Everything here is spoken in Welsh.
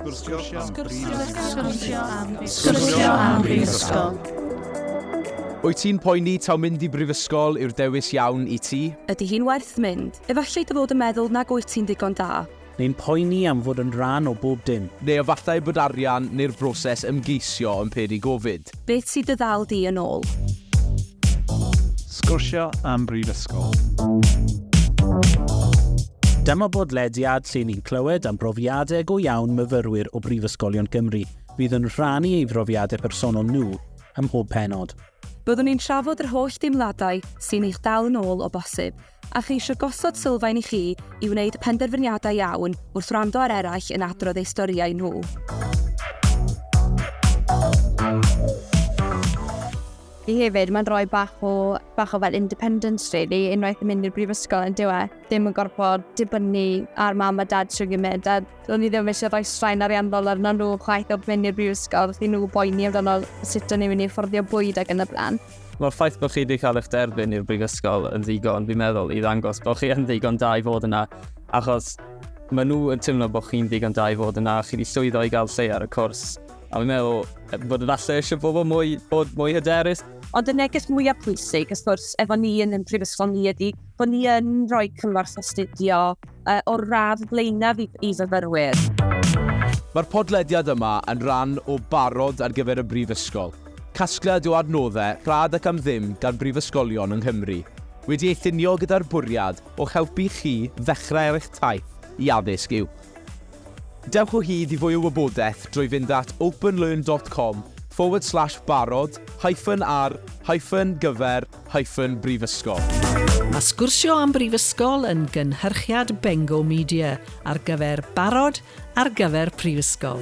Sgwrsio am brifysgol. Sgwrsio am brifysgol. Wyt ti'n poeni taw mynd i brifysgol yw'r dewis iawn i ti? Ydy hi'n werth mynd? Efallai dy fod yn meddwl nag wyt ti'n ddigon da. Neu'n poeni am fod yn rhan o bob dim. Neu efallai bod arian neu'r broses ymgeisio yn peri gofid. Beth sydd dy ddal di yn ôl? Sgwrsio am Brifysgol. Dyma bodlediad lle ni'n clywed am brofiadau go iawn myfyrwyr o Brifysgolion Cymru fydd yn rhannu ei brofiadau personol nhw ym mhob pennod. Byddwn ni'n trafod yr holl deimladau sy'n eich dal yn ôl o bosib, a cheisio gosod sylfaen i chi i wneud penderfyniadau iawn wrth wrando ar eraill yn adrodd eu storïau nhw. Fi hefyd, mae'n rhoi bach o, bach o fel independence really, unwaith yn mynd i'r brifysgol yn diwe, ddim yn gorfod dibynnu ar mam a dad trwy gymryd, a o'n i ddim eisiau rhoi straen ariannol arno nhw chwaith o'r mynd i'r brifysgol, chi nhw boeni amdano sut o'n i'n mynd i fforddio bwyd ac yn y blaen. Mae'r ffaith bod chi wedi cael eich derbyn i'r brifysgol yn ddigon, fi'n meddwl, i ddangos bod chi yn ddigon da i fod yna, achos maen nhw yn teimlo bod chi'n ddigon da i fod yna, chi wedi llwyddo i gael lle ar y cwrs, a fi'n meddwl bod yn allu eisiau bobl mwy, bod mwy hyderus. Ond y neges mwyaf pwysig, ysgwrs, efo ni yn yn prifysgol ni ydy bod ni yn rhoi cymorth astudio, uh, o'r radd flaenaf i, i fyfyrwyr. Mae'r podlediad yma yn rhan o barod ar gyfer y Brifysgol, casgliad o adnoddau rhad ac am ddim gan brifysgolion yng Nghymru, wedi ei llunio gyda'r bwriad o'ch helpu chi ddechrau ar eich taith i addysg yw. Dewch o hyd i fwy o wybodaeth drwy fynd at openlearn.com forward slash barod hyphen ar hyphen gyfer hyphen brifysgol. Mae Sgwrsio am Brifysgol yn gynhyrchiad Bengo Media ar gyfer barod ar gyfer prifysgol.